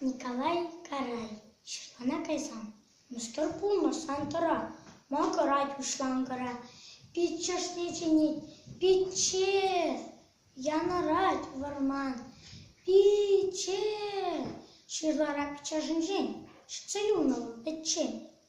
Николай Карай ҫырлана кайсан мӑшӑр пулмасан тӑра, макӑрать уҫланкӑра, пит чӑшни чӗнет, пичче! янӑрать вӑрман. Пичче! ҫырлара пиччешӗнчен ҫитсе юлнӑ вӑл пӗччен.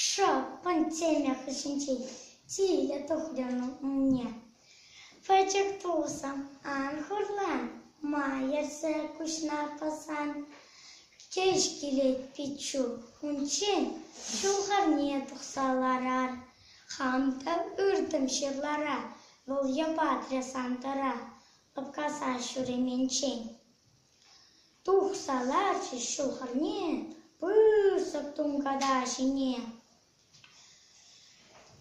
Шел, пандемия хыҫӗнчен тилӗ тухрӑмӑр умне. Пӗчӗк-тусӑм, ан хурлан, ма ертсе куҫна пӑсан кӗҫ килет пиччӳ. Унччен ҫӑлхавне тухса ларар, хам та ыртӑм ҫырлара, вӑл йӑпатрӗ Сантӑра лӑпкаса ҫуременчен. Тухса ларчӗҫ ҫул хӗрне пысӑк тунката ҫине.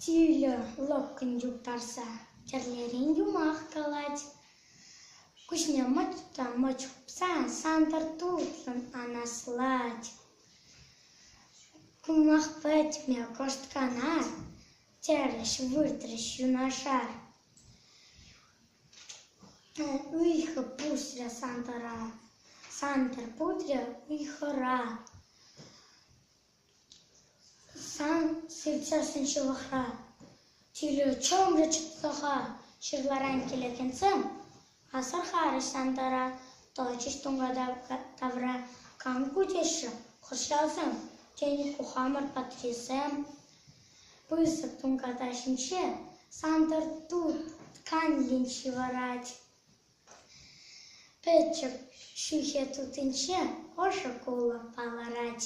Тилӗ лӑпкӑн юптарса тӗрлерен юмах калать. Куҫне мӑч та мӑч хупсан Сантӑр тутлӑн анаслать. Юмах пӗтме кӑшт кана Терӗҫ, выртрӗҫ юнашар. Ыйхӑ пусрӗ Сантӑр путрӗ ыйхӑра. Сан сыртсассӑн ҫывӑхра. Тӳлев чӑмрӗ чӑтса-ха. Ҫырларан килекенсем Асӑрхарӗҫ Сантӑра, тӑчӗҫ тунката тавра. «Кам ку?» теҫҫӗ хӑрҫасем. Тен, ку хамӑр патрисем? Пысӑк тунката ҫинче Сантӑр тытканлӗн ҫывӑрать. Пӗчӗк ҫӳхе тутинче ӑшӑ кулӑ палӑрать.